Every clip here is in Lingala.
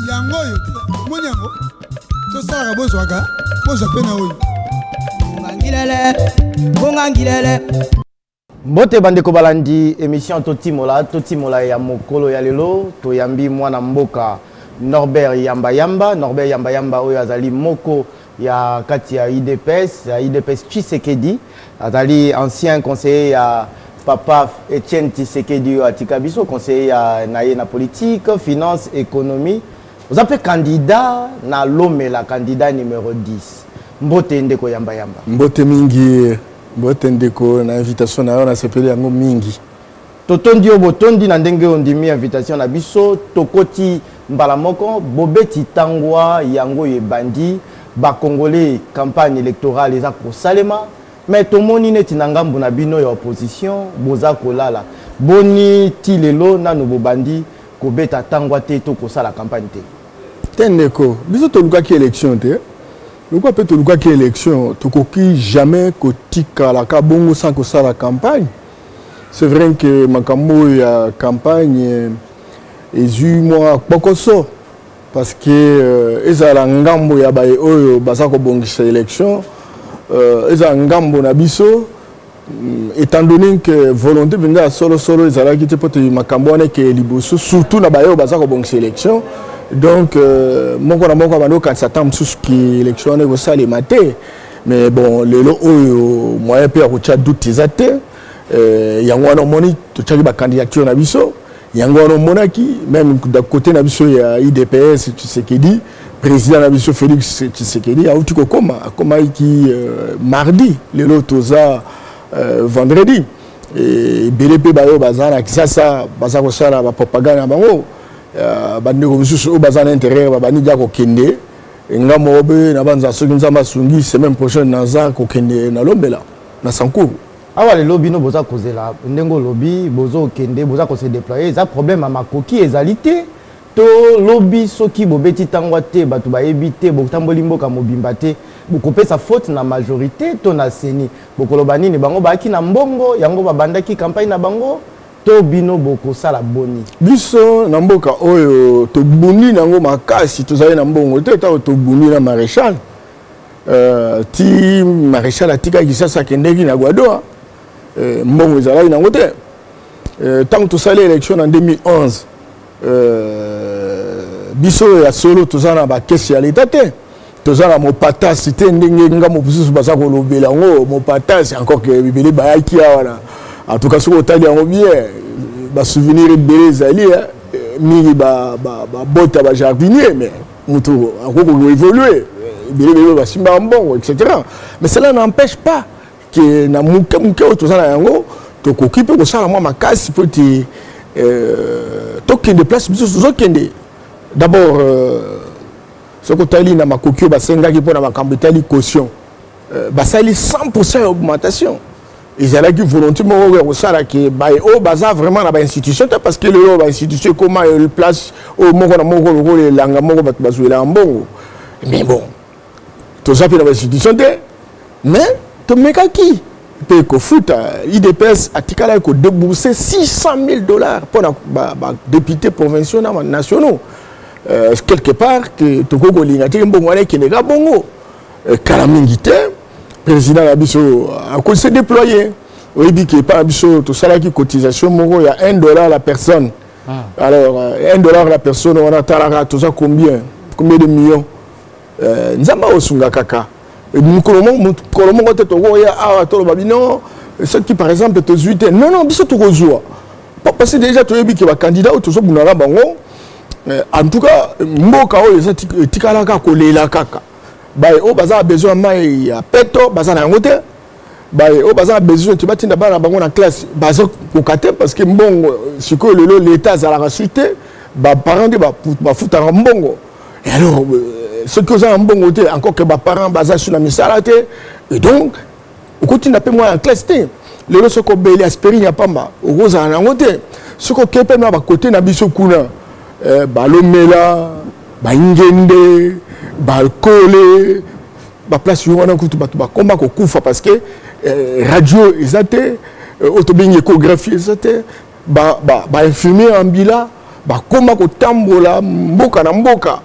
yango oyo te omoni yango tosalaka bozwaka bozwa mpe na oyo ngangilele ngongangilele mbote bandeko balandi émission totimola totimola ya mokolo ya lelo toyambi mwana mboka norbert yambayamba norbert yambayamba oyo azali moko ya kati ya udps ya udps tshisekedi azali ancien conseiller ya papa etienne tshisekedi oyo atika biso conseiller ya na ye na politique finance économie oza mpe candidat na lomela candidat numéro 10 mbote ndeko yamba yamba mbote mingi mbote ndeko na invitation na yo nasepeli yango mingi Totondi yo botondi na ndenge ondimi invitation na biso tokoti mbala moko bobeti tangwa yango ebandi bakongole campagne électorale eza kosalema me tomoni neti na ngambo na bino ya opposition boza kolala boni ti lelo nano bobandi kobeta tangwa te to kosala campagne te te ndeko biso tolukaki élection te lokola mpe tolukaki élection tokoki jamais kotikalaka bongo sans kosala campagne C'est vrai que makambo oyo ya campagne ezwi mwa kpokoso parce que euh, ezala ngambo ya baye oyo baza kobongisa élection euh, ezala ngambo na biso mm, étant donné que volonté mpenza ya solosolo ezalaki te mpo te makambo wana ekeye liboso surtout na baye oyo baza kobongisa élection donc euh, moko na moko abandi kokanisa ntango mosusu ki élection wana ekosalema te mais bon lelo oyo moyen mpe ya kotya doute eza te euh, yango wana omoni totyaki bacandidature na biso yango wana omonaki meme côté na biso ya idps tshisekedi président na biso félix tshisekedi auti kokoma akomaki euh, mardi lelo toza euh, vendredi ebele mpe baoyo baza na kisasa baza kosala bapropagande na bango bandeko mosusu oyo baza na intérieur babandi dia kokende nga moko mpe nabanza soki nzambe asungi semaine prochaine naza kokende na lombela na sankuru awa lelo bino boza kozela ndenge olobi bozokende boza kose déploye eza problème ya makoki ezali te to lobi soki bobeti ntangwa te bato bayebi te botamboli mboka mobimba te bokopesa faute na majorité to na seni bokoloba nini bango bayaki na mbongo yango babandaki campagne na bango to bino bokosala boni biso na mboka oyo tobuni nango makasi tozali na mbongo te ntango tobuni na maréchal euh, ti maréchal atikaki sasa akendeki na guadoa euh, mbongo ezalaki nango te ntango euh, tosali élection na 2011 Euh, biso ya solo toza na bakesi ya leta te toza na mopatasi te ndenge nga mosusu baza kolobela yango mopatasi encore ke bibele bayaki awa na en tout cas soki otali yango bien basouvenir ebele ezali eh, mingi babota bajardinier mais motu akoki koévolue ebele bebe basimbaka mbongo etc mais cela n'empêche pas ke na moke moke oyo toza na yango tokoki mpe kosala mwa makasi mpo ete euh, tokende place biso tozokende d'abord euh, soki otali na makoki oyo basengaki mpo na makambo etali caution euh, basali 100 ya augmentation ezalaki volonté moko oyo ya kosala ke baye oyo baza vraiment na bainstitution te parce que lelo bainstitution ekoma place oyo moko na moko lokola elanga moko bato bazwelaka mbongo mais bon toza mpe na bainstitution te mais tomekaki mpe kofuta idps atikalaki kodebourse 600 000 dollars mpo na badepute provinciaux na banationaux euh, quelque part ke tokoki kolinga te mbongo wana ekendeka bongo euh, kala mingi te président na biso akoki se déploye oyebi ke epai na biso tosalaki cotisation moko ya 1 dollar la personne ah. alors 1 euh, dollar la personne wana talaka toza combien combien de millions eh, nzambe aosunga kaka eh, mokolo moko te tokoya awa toloba bino soki par exemple tozwi te non non biso tokozwa parce que déjà toyebi ke bacandidat oyo tozobunaka bango eh, en tout cas mboka oyo eza etikalaka kolela kaka baye oyo baza na besoin ya mai ya peto baza na yango te baye oyo baza na besoin te batinda bana na bango na classe bazokoka te parce que mbongo sikoyo lelo leta azalaka su te baparent nde bafutaka mbongo alors euh, soki oza na mbongo te encore ke baparent baza su na misala te et donc okotinda mpe mwana na classe te lelo soki obeli aspirine ya pamba okozala na yango te soki okei mpe na bakote na biso kuna eh, balomela baingende bakole ba place yo wana kutu bato bakoma kokufa parce que eh, radio eza te eh, oyo tobengi échographie eza te bainfirmier ba, ba ambila bakoma kotambola mboka na mboka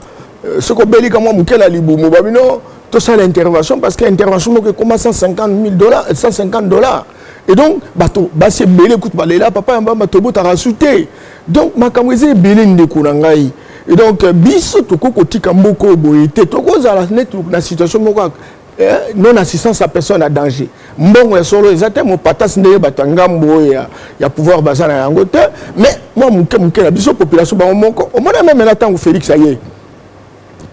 eh, soki obelika mwa moke na libumu babino tosala intervention parce que intervention moko ekoma 150 000 dollars 150 dollars et donc bato basi ebele kutu balela papa ya mbamba tobotaka su te donc makambo eza ebele ndeko na ngai et donc euh, biso tokoki kotika mboka oyo boye te tokozala neti na situation moko eh, non assistance ya personne ya danger mbongo ya solo eza te mopatasi ndenge bato ya ngambo oyo ya, ya pouvoir baza na yango te mais mwa moke moke na biso population bango moko omona meme na ntango félix aye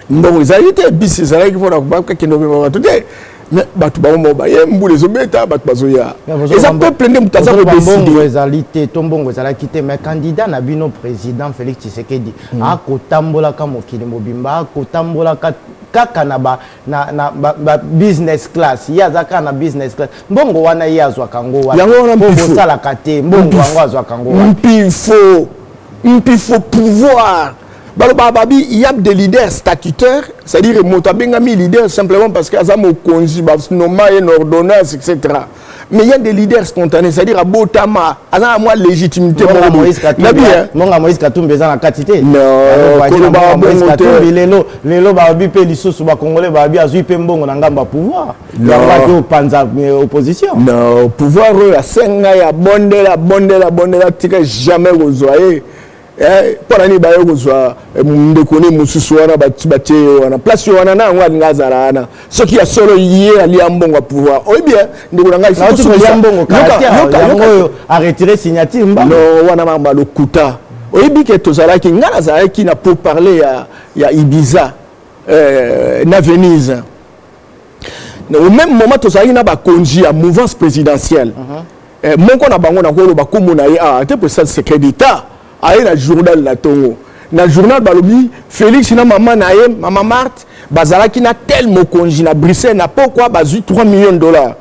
mbongo ezalaki te bisi ezalaki mpona bakende obema bato te me bato bango moko baye mbula ezobeta bato bazoya eza peuple nde moto aza kodeside ezali te to mbongo ezalaki te mais candidat na bino président félix tshisekedi mm. akotambolaka mokili mobimba akotambolaka kaka na ba na na ba, ba business class ye aza kaka na business class mbongo wana ye azwaka ngo wana yango wana mpo bosalaka te mbongo yango azwaka ngo wana mpifo mpifo pouvoir balobaka babi yab de leader statutaire c'est-à-dire moto abengami leader simplement parce que aza mokonzi banoma ye na ordonnance etc mais il y a des leaders spontanés c'est-à-dire abotama aza na mwa légitimité monga moïse katumbi eza na kati te kolobaka bongo te lelo lelo babi mpe lisusu bacongolais babi azwi mpe mbongo na ngambo ya pouvoir yangoaki opanza euh, opposition pouvoir oyo asenga ya bondela bondela bondela tika jamais kozwa ye Eh, mpo na nini baye kozwa eh, ndeko ne mosusu wana batie ye wana place wana na yango alinga azala wana soki ya solo ye alia mbongo ya pouvoir oyebi eh, ndeko na ngaiyokaoyo aretire signature mbano wana mama lokuta oyebi ke tozalaki ngai nazalaki na pour parler ya, ya ibiza eh, na venise au même moment tozalaki na bakonzi ya mouvance présidentielle mm -hmm. eh, moko na bango nakoloba nkombo na ye awa ah, te mpe sa secret d'état aye na journal na ntongo na journal balobi félix na mama na ye mama marte bazalaki na tel mokonzi na bruxelles na pokwa bazwi 3 millions de dollars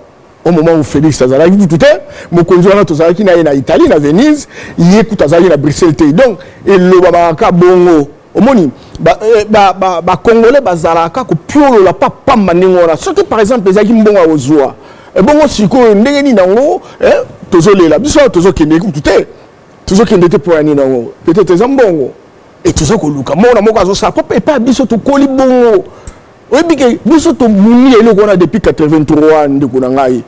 au moment où félix azalaki kutu te mokonzi wana tozalaki na ye na italie na venise ye kutu azalaki na bruxelles te donc elobamaka kaka bongo omoni bacongolais eh, bazalaka kopiolola pa pamba ndenge wana soki par exemple ezalaki mbongo ya kozwa ebongo eh, sikoyo ndenge nini yango eh, tozolela biso awa tozokende kutu te tozokende te mpo ya nini yango peut-être eza mbongo e toza koluka mona moko azosala po epai biso tokoli bongo oyebi ke biso tomoni eloko wana depuis 83 ndeko na ngai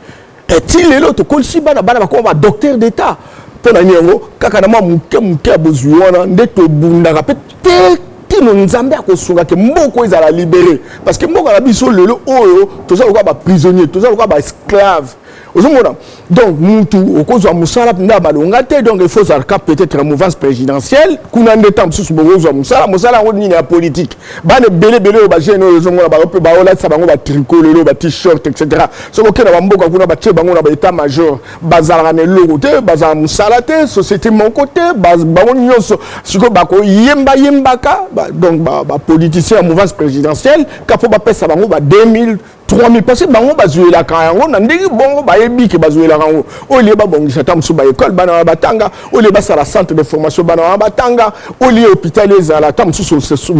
eti eh, lelo tokolisi bana bana bakoma badocteur d'état mpo na nini yango kaka na mwa moke moke ya bozwi wana nde tobundaka mpe te kino nzambe akosunga ke mboko ezala libere parce que mboka na biso lelo oyo toza lokola baprisonnier toza lokola baesclave ozomona donc mutu okozwa mosala mpenza ya malonga te donc il faut ozala ka peut-être na mouvance présidentielle kuna nde ntango mosusu bokozwa mosala mosala yango nini ya politique bana ebele ebele oyo bajeune oyo ozomona bango mpe baolatisa bango batricot lelo batishirt etc soki okenda bamboka kuna batye bango na baétat major bazalaka na eloko te bazala mosala te société moko te bango nyonso sikoyo bakoyemba yembaka donc bapoliticien ya mouvance présidentielle ka mpo bapesa bango ba 2000 3000 parce que bango bazuelaka yango na ndenge bongo bayebi ke bazuelaka yango olie babongisa ata mosusu baekole bana wana batanga olie basala centre de formation bana wana batanga olie hôpital ezala ata mosusu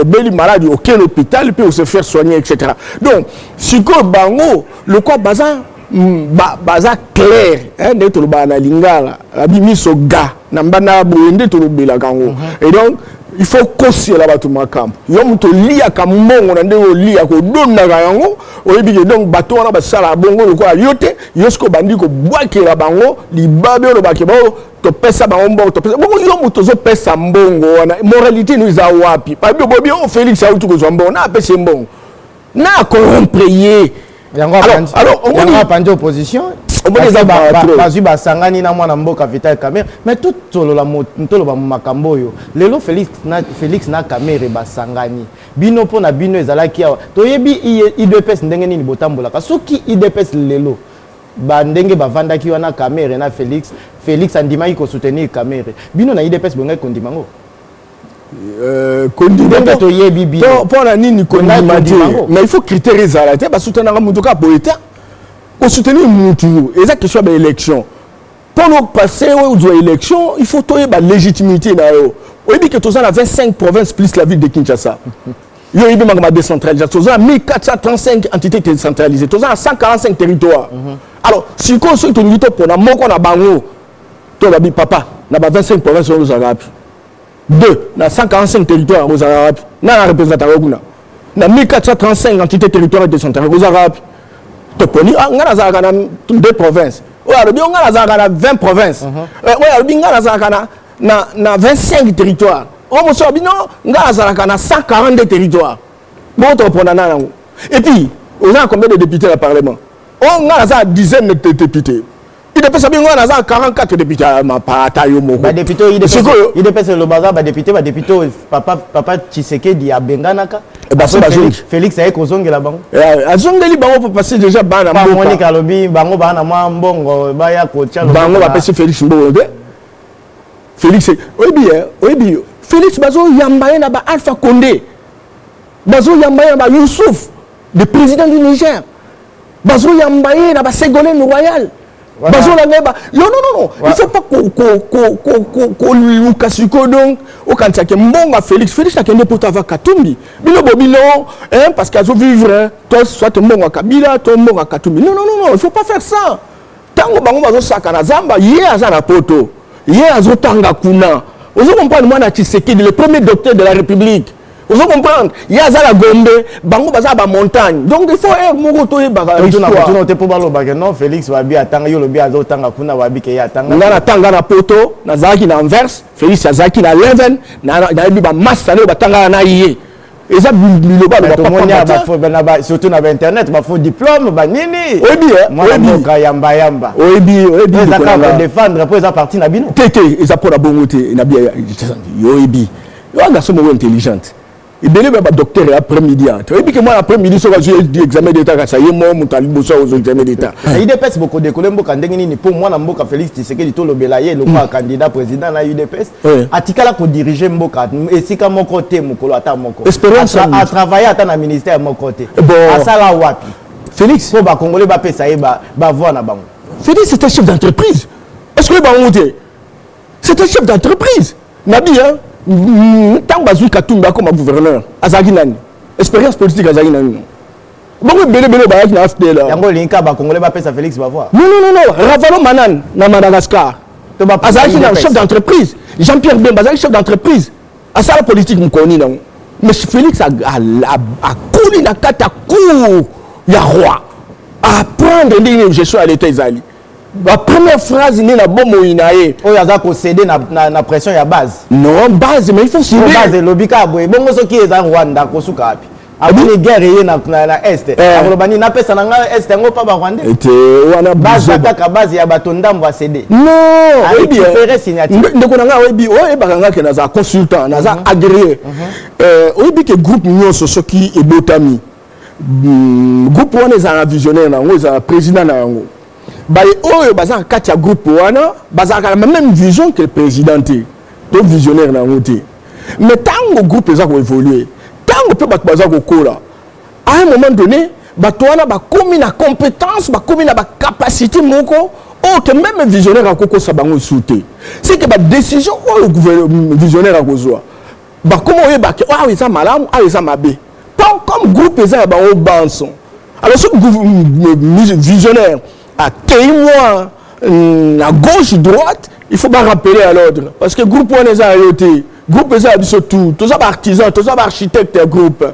obeli maladi okele hôpital mpe ose faire soigner etc donc sikoyo bango lokwa baza Hmm, ba baza clair hein nde tolobaka na lingala abi miso ga na mbanda boye nde tolobelaka yango mhm. et donc il faut kosiela bato makambo yo moto oliyaka mbongo na ndenge oliya kodondaka yango oyebi ke donc bato wana basalaka bongo lokola yo te yo soki obandi kobwakela bango libabe olobake bao topesa bango mbongo topesa bongo yo moto ozopesa mbongo wana moralité no eza wapi babi obobi o oh, félix auti kozwa mbongo na apesi mbongo na corrompre ye yango apandi opposition bazwi basangani na mwana mboka vital camere mais totoloba makambo oyo lelo félix na camere basangani bino mpo na bino ezalaki awa toyebi idps ndenge nini botambolaka soki idps lelo bandenge bavandaki wana camere na félix félix andimaki kosoutenir camere bino na idps bongaki kondima yango Euh, kondimaka toyebi bino mpo na nini kondima te mais il faut critère ezala te basutenaka moto kaka boye te kosoutenir motu eza question ya baélection mpo nopase ozwa élection il faut toyeba légitimité na yo oyebi ke toza na 25 province plus la ville de kinshasa yo oyebi makambo ya décentralisation toza na 1435 entité décentralisée toza na 145 territoire mhm. alors sikoyo soki tolingi topona moko na bango to babi papa na ba 25 province oyo ozalaka wapi 2 na 145 territoire yango ozalaka wapi nana representaka yo kuna na 1435 entité territoire décentrale ozalaka wapi toponi ah, ngai nazalaka na deux provinces oyo alobi yo ngai nazalaka na 20 provinces mhm. eh, oyo alobi ngai nazalaka na na, na 25 territoire oyo mosusu alobi no ngai nazalaka na 142 territoire bongo tokopona na yango et puis oza na combien de député na parlement oyo ngai naza na dizaine de député idps abingo wana aza 44 député ya mapata yo moko badepute idps eloba aza badepute badepute oyo papa tshisekedi abenganaka eh, basi bazongi félix aye kozongela bango eh, azongeli bango mpo pasi déjà bana mbokamonike alobi bango baa na mwa mbongo baya kotya bango bapesi félix mbongo te félix oyebi ye oyebi félix bazoyamba ye na ba alpha conde bazoyamba ye na ba yousuf le président du niger bazoyamba ye na baségolene royal bazolanga ye yo nonono il faut pas koluka sikoyo donc okanisa ke mbonga félix félix akende poto ava katumbi bino bobino parce que azovivre to soit mbonga kabila to mbonga katumbi non non non il faut pas faire ça ntango bango bazosakana zamba ye aza na poto ye azotanga kuna ozo comprendre mwana tshisekedi le premier docteur de la république ozo comprendre ye aza na gombe bango baza ba montagne donc il faut heure moko toyebaka histoire te mpo balobake non félix babi atanga yo lobi azotanga kuna babi ke ye atanga nga natanga na poto nazalaki na anvers félix azalaki na leven nayebi bamasta nayo batangaka na ye eza biloba surtout na bainternet bafaux diplôme banini oyebimuka yamba yamba oyebiezakadefendre mpo eza parti na bino te te eza mpo na bongo te oyebi yo garçon moko intelligente ebele ba docteur ya après midi ya oyebi ke mwana après midi soki azwi examen d'état kasa ye moko moto aliboso akozwa examen d'état na udps bokodekole mboka ndenge nini mpo mwana mboka félix tshisekedi tolobela ye lokola candidat président na udps oui. atikala kodirige mboka esika moko te mokolo ata moko atravaille ata na ministère moko te eh bon. asala wapi félix mpo bakongole bapesa ye bavoi na bango félix c'est un chef d'entreprise est-ce que bango te c'est un chef d'entreprise nabi ntango bazwi katumbi akoma gouverneur azalaki nani expérience politique azalaki nani bango ebele ebele bayaki na afdl yango olingi kaka bacongolais bapesa félix bavoi non non non ravalo manan na madagascar azalaki na chef d'entreprise jean pierre bemba azalaki chef d'entreprise asala politique mokolo nini yango mais félix akoli na kati ya cour ya roi apprendre ndenge nini gestion ya leta ezali ba première phrase nde na bomoi na ye oyo aza kosede na, na, na pression ya base non base mais il faut side base elobi kaka boye bongo soki eza rwanda akosuka wapi aboni guerre eye na, na, na est eh. akoloba nini napesa na ngai est yango mpa barwandais eh, te wana base kaka base ya bato ndambo asede nonpere signature ndeko na ngai oyebi oyebaka ngai ke naza consultant naza mhm. agréé mhm. Eh, oyebi ke groupe nyonso soki ebotami Hmm, groupe wana ezala na visionnaire na yango ezala président na yango baye oyo baza na kati ya groupe wana bazalaka na même vision que président te to visionnaire na yango te mais ntango groupe eza koévolue ntango mpe bato baza kokola à un moment donné bato wana bakomi na compétence bakomi na bacapacité moko oyo ke meme visionnaire akokosa bango esu te seke badécision oyo visionnaire akozwa bakoma oyeba ke awa eza malamu awa eza mabe tant comme groupe eza ya bango banso alors soki visionnaire ateyi mwa na gauche droite il faut barappeler à l'ordre parce que groupe wana eza ya yo te groupe eza ya biso tout toza baartisan toza baarchitecte ya groupe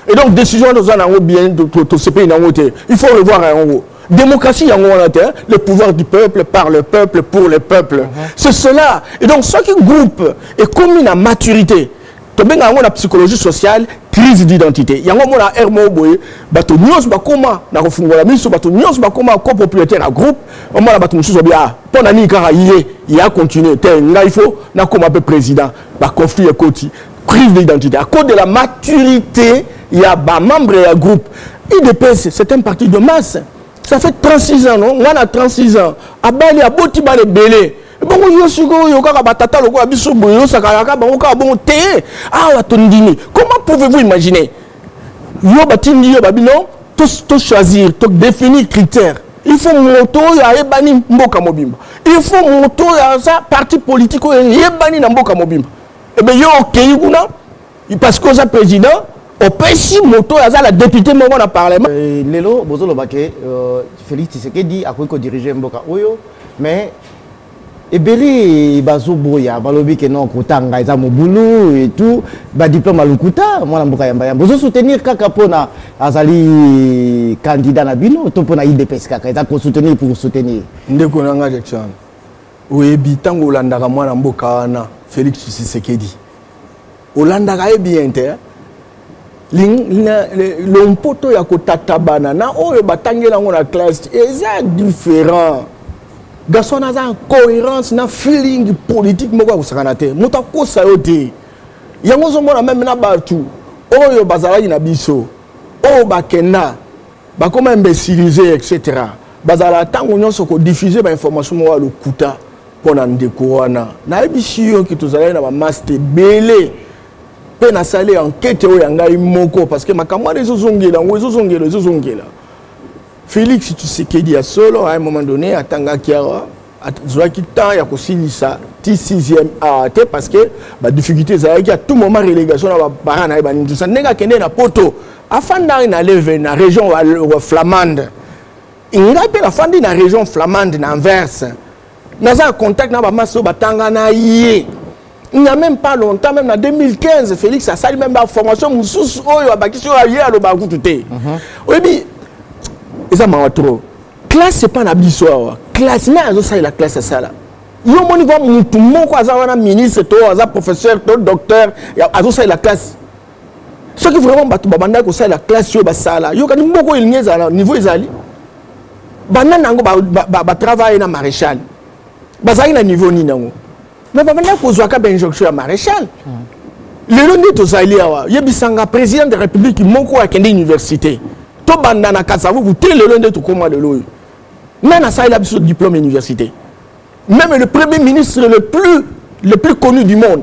et donc décision wana oza na yango bien tosepeli na yango te il faut revoir yango démocratie yango wana te le pouvoir du peuple par le peuple pour le peuple mm -hmm. c'est cela et donc soki groupe ekomi na maturité tobenga yango na psychologie sociale crise d'identité yango omona r moko boye bato nyonso bakóma na kofungola miso bato nyonso bakóma copropriétaire ya groupe omona bato mosusu babi a mpo na nini kaka ye ye acontinue te ngai fo nakóma mpe président baconflit ekoti Crise d'identité à cause de la maturité ya ba membres ya groupe. IDPS c'est un parti de masse. Ça fait 36 ans non, moi na 36 ans. Abali aboti ba belé. bongo yo sikoyo kaka batata lokola biso boye osakaka kaka bango kaka bongo te awa tondimi comment pouvez-vous imaginer yo batindi yo babi non tochoisir to todéfinir critère il faut moto oyo ayebani mboka mobimba il faut moto oyo aza parti politique oyo eyebani na mboka mobimba ebe eh yo okei kuna parce que oza président opesi moto oyo aza na député moko na parlement euh, lelo bozoloba ke euh, félix tshisekedi akoki kodirige mboka oyo mais ebele bazoboya balobi ke non kotanga eza mobulu et tout badiplome ya lokuta mwana mboka yambayamba ozosoutenir kaka mpona azali candidat na bino to mpona idps kaka eza kosoutenir pour soutenir ndeko na ngai jackson oyebi ntango olandaka mwana mboka wana félix tshisekedi olandaka ye bien te lompoto ya kotatabana na oyo batangeli yango na classe eza différent garçon wana aza incohérence na feeling politique moko ya kosakana te moto akosa yo te yango ozomona meme na bato oyo bazalaki na biso oyo bakenda bakoma imbecilise etc bazala ntango nyonso kodifuse bainformation moko ya lokuta mpo na ndeko wana nayebisi yo ke tozalaki na bamaste ebele mpe nasali ankete oyo ya ngai moko parce que makambo wana ezozongela yango ezozongela ezozongela félix tshisekedi ya solo à un moment donné atangaki awa azwaki temps ya kosilisa ti 6e awa te parce que badifficulté ezalaki à tout moment relégation na bapara na ye banindisa ndenge akende na poto afandaki na leve na région flamande ngai mpe nafandi na région flamande na anverse naza na contact na bamasi oyo batanga na ye il n'y a même pas longtemps même na 2015 félix asali même baformation mosusu oyo abakisi oyo aye aloba kutu te mhm. oyebi eza mawa trop classe epa na biso awa classe nani azosalela classe asala yo omoni kua mutu moko aza wana ministre to aza professeur to docteur azosalela classe soki vraiment bato babandaki kosalela classe oyo basala yokani moko elingi ezala niveau ezali banda na yango batravaille na maréchal bazalaki na niveau nini yango mais babandaki kozwaka bainjonction ya maréchal lelo nde tozali awa yebisanga président de république moko akende université tobanda na kasavubu te lelo nde tokóma lelo oyo nani asalela biso diplôme université même le premier ministre le plus, le plus connu du monde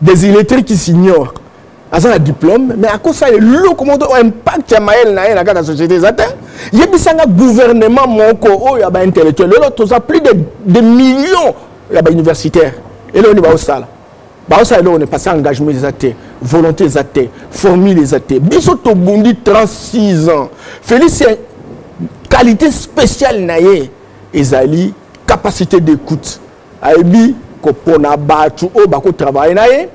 des illettrés qui s'ignorent aza na diplôme mais akosala eloko moko to impact ya mayele na ye na kati ya société eza te yebisanga gouvernement moko oyo ya baintellectuel lelo toza plus de, de millions ya bauniversitaire eloko nini baosala baosala eloko nini parce engagement eza te volonté eza te formule eza te biso tobundi 36 ans félix qualité spéciale na ye ezali capacité d'écoute ayebi kopona bato oyo bakotravaille na ye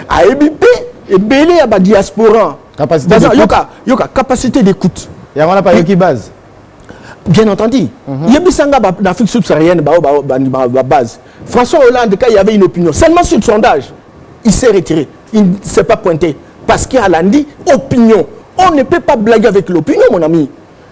ayebi mpe ebele ya badiasporan yoka, yoka capacité d'écoute yango wana bayoki base bien entendu mhm. yebisa nga na afrique subsaharienne bao babase françois hollande quand il y avait une opinion seulement sur le sondage il s'est retiré il ne s'est pas pointé parce qu'il a dit opinion on ne peut pas blaguer avec l'opinion mon ami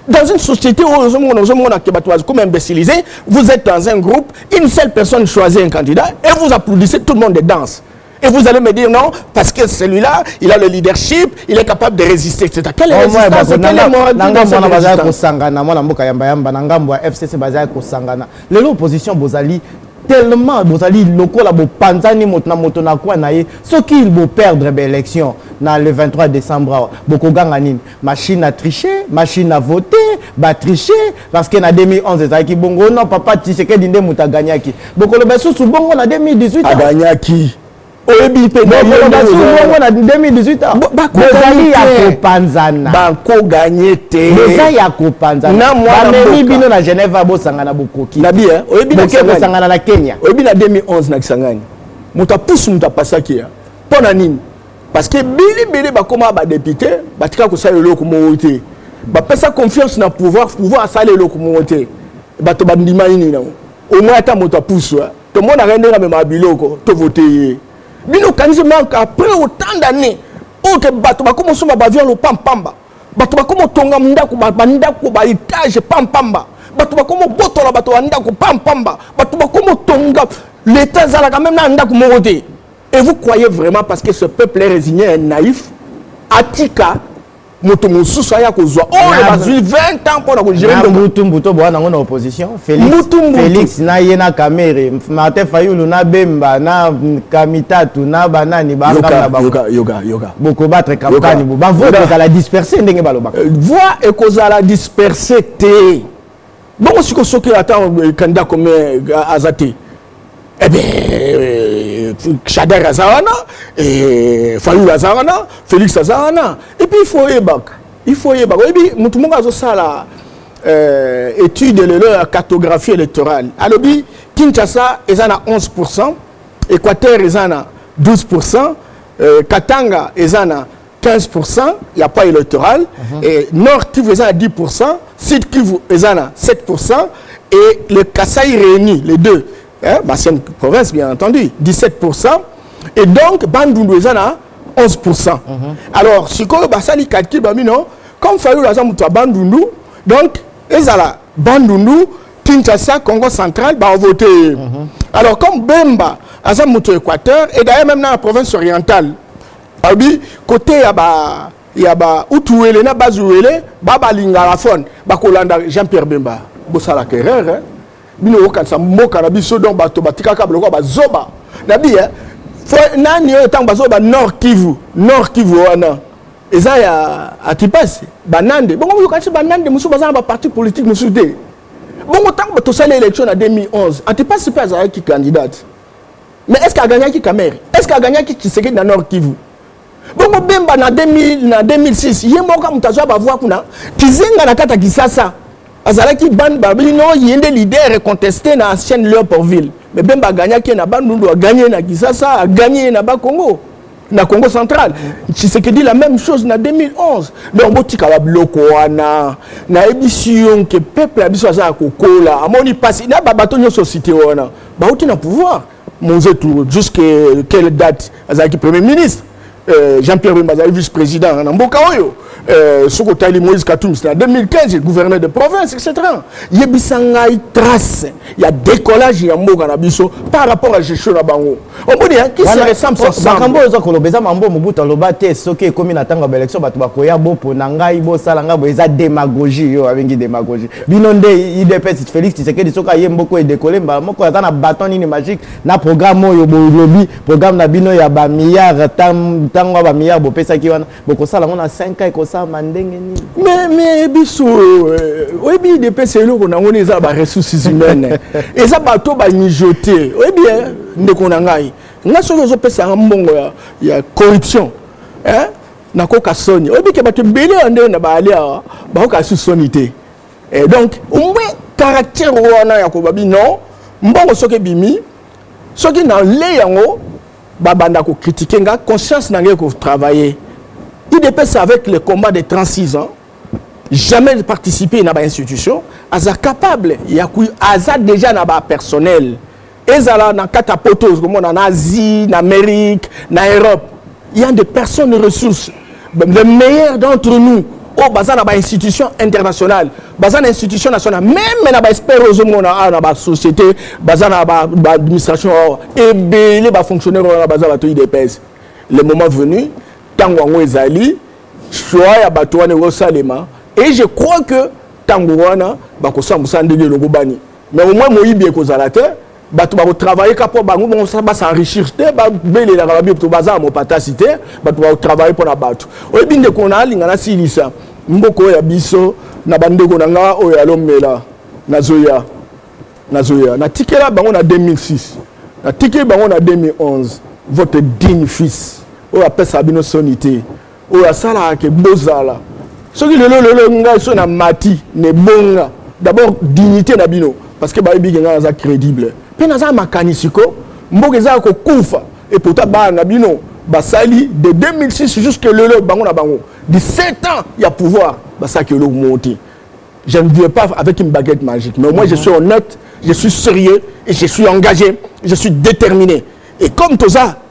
Dans une société où comme imbécilisé, vous êtes dans un groupe, une seule personne choisit un candidat et vous applaudissez, tout le monde danse. Et vous allez me dire non, parce que celui-là, il a le leadership, il est capable de résister, etc. Quelle est résistance Quelle est morale Nangambwana bazali kosangana, mwana mboka yamba yamba, Nangambwa FCC bazali kosangana. Lelo opposition bozali tellement bozali lokola bopanzani moto na moto na kwa na ye soki boperdre baélection na le 23 décembre awa bokoganga nini machine à tricher machine à voter ba tricher parce que na 2011 ezalaki bongo non papa tisekedi nde moto agagnaki bokoloba lisusu bongo na 2018 agagnaki oyebi mpe bongo na 2018 bozali ya kopanzana bakoganye te eza ya kopanzana bamemi bino na genève abosangana bokoki nabi oyebi bosangana na kenya oyebi na 2011 na kisangani moto apusu moto apasaki ya mpo na nini parce que bili bili bakoma ba député batika kosala eloko moko te bapesa confiance na pouvoir pouvoir asala eloko moko te bato bandima nini nango omoi ata moto apusu tomonaka ye ndenge amemaka biloko tovote ye bino okanisi manke après autant d'année oyo ke bato bakoma osomba bavio ya lopampamba bato bakoma otonga ndako bandako baetage pampamba bato bakoma obotola bato bandako pampamba bato bakoma otonga leta ezalaka meme na ndako moko te Et vous croyez vraiment parce que ce peuple est résigné et naïf, Atika, moto mosusu aya kozwa oyo bazwi 20 ans mpo na kogere mbutu mbutu boya nango na opposition félix na ye na kamere martin fayulu na bemba na kamitatu na banani bangabokobatre kampani bo bavote ekozala disperse ndenge balobaka euh, voi ekozala disperse te bongo siko soki ata kanda kome aza te ebe shader aza wana fayul aza wana félix aza wana epuis il faut oyebaka il faut oyebaka oyebi motu moko azosala euh, étude lelo ya cartographie électorale alobi kinshasa eza na 11 pourcent équateur eza na 12 pourcent euh, katanga eza na 15 pour cent ya pas électoral mm -hmm. et nord kivu eza na 10 pour cent sud kivu eza na 7 pour cent et le kasai réuni les deux hein, bacienne province bien entendu 17 pour cent et donc bandundu eza na 11 pour cent mm -hmm. alors sikoyo basali calcul bamino comme fayulu aza moto ya bandundu donc ezala bandundu kinshasa congo central baovote ye mm -hmm. alors comme bemba aza moto ya équateur et d'ailleurs même na la province orientale alobi kote ya ba ya ba utuwele na bazuwele babalingaka fone bakolanda jean pierre bemba bosalaka erreur eh? bino okanisa mboka na biso donc bato batikaka biloko bazoba na bi eh? fo nani oyo ntango bazoba ba nord kivu nord kivu wana eza ya atipasi banande bongo oyokanisi banande mosusu baza na baparti politique mosusu te bongo ntango tosali élection na 2011 atipasi mpe azalaki candidate mais est ce que agagnaki kamere est ce que agagnaki tshisekedi na nord kivu bongo bemba na 2000 na 2006 ye moko moto azwa bavoi kuna kizenga na kati ya kisasa azalaki bande babino ye nde leader contesté na ancienne leoportville mais bemba agagnaki ye na bandundu agagne ye na kisasa agagne ye na bakongo na congo central tshisekedi la même chose na 2011 donc botika babiloko wana nayebisi yo nke peuple ya biso aza ya kokola amoni mpasi na babato nyonso site wana bauti na pouvoir monzetu jusque quelle date azalaki premier ministre euh, jean-pierre bemba azali vice président na mboka oyo euh, soki otali moïse katumbi na 2015 gouverneur de province etc yebisa ngai trace ya décollage ya mboka na biso par rapport à gestion na bango omoni hein, qui se ressemble oh, makambo oyo oza koloba eza mambo mobutu aloba te soki ekomi na ntango ya baélection bato bakoya bopona ngai bosala ngai boye eza démagogie yo abengi démagogie bino nde idps félix tisekedi soki aye mboko edekole mbala moko aza na baton nini magique na programme oyo bolobi programme na bino ya bamilliard ntango ya bamilliard bopesaki wana bokosala yango na 5 ans ekosalama ndenge nini mais mais biso euh, oyebi udps eloko nango nde eza baressources humaines eza bato bamijote oyebi eh, ndeko na ngai nga soki ozopesa yanga mbongo ya, ya corruption eh? nakoka soni oyebi ke bato ebele ya ndenge na baali awa bakoka su soni te eh, donc omwe caractère wana ya kobabi non mbongo soki ebimi soki na lei yango babanda ko critiquer nga conscience na ngai ko travailler idps avec le combat de 36 ans jamais participer na ba institution aza capable ya ku aza déjà na ba personnel ezala na kati ya poto okomona na asie na amérique na europe il y a des personnes ressources le meilleur d'entre nous oyo baza na bainstitution internationale baza na institution nationale meme na baespere oyo ozomona awa na basociété baza na baadministration awa ebele bafonctionnaire wana baza bato idps le moment venu ntango yango ezali choix ya bato wana ekosalema et je crois que ntango wana bakosala mosala ndenge elongobani mais au moins moyibi ekozala te bato bakotravaille ka mpo bango moko basenrichir te babelelaka babioto baza ya mopatasi te bato bakotravaille mpo na bato oyebi ndeko na alinga nasilisa mboka oyo ya biso na bandeko na nga oyo alomela nazoya nazoya natikela bango na 2006 natikeli bango na 2011 votre digne fils oyo apesaka bino soni te oyo asalaka ke bozala soki lelo lelo ngai so na mati na ebonga d'abord dignité na bino parce que bayebi ke ngai naza crédible mpe naza makanisi ko mboka eza ya kokufa epota bana na bino basali de 2006 jusque lelo bango na bango 17 ans ya pouvoir basalaki eloko moko te je ne viens pas avec une baguette magique mais au moins je suis honnête je suis sérieux et je suis engagé je suis déterminé et comme toza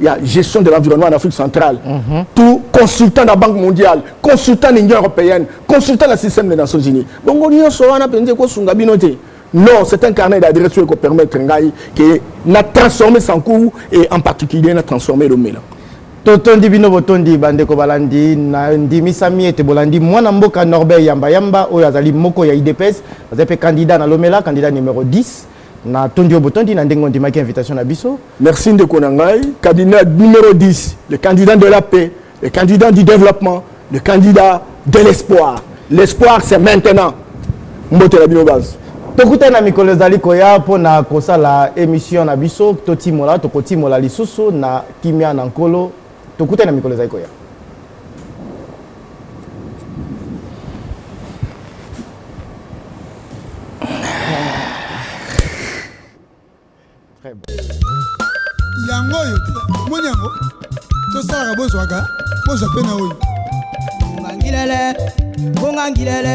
Il y a gestion de l'environnement en Afrique centrale. Mm -hmm. Tout consultant de la Banque mondiale, consultant de l'Union européenne, consultant du système des Nations Unies. Donc, on y a sur un appel de Kosunga Binoté. Non, c'est un carnet d'adresse qui permet Ngaï que na transformer son cours et en particulier na transformer le mélange. totondi bino botondi bandeko balandi na ndimisami ete bolandi mwana mboka norbert yambayamba oyo azali moko ya idps azali mpe candidat na lomela candidat numero 10 Na tondi yo botondi na ndenge ondimaki invitation na biso. Merci ndeko na ngai, cabinet numéro 10, le candidat de la paix, le candidat du développement, le candidat de l'espoir. L'espoir c'est maintenant. Mbote la bino base. tokutani na mikolo ezali koya mpo na kosala emission na biso totimola tokotimola lisusu na kimia na nkolo tokutani na mikolo ezali koya yango oyo moni yango tosalaka bozwaka bozwa mpe na oyo bongangilele bongangilele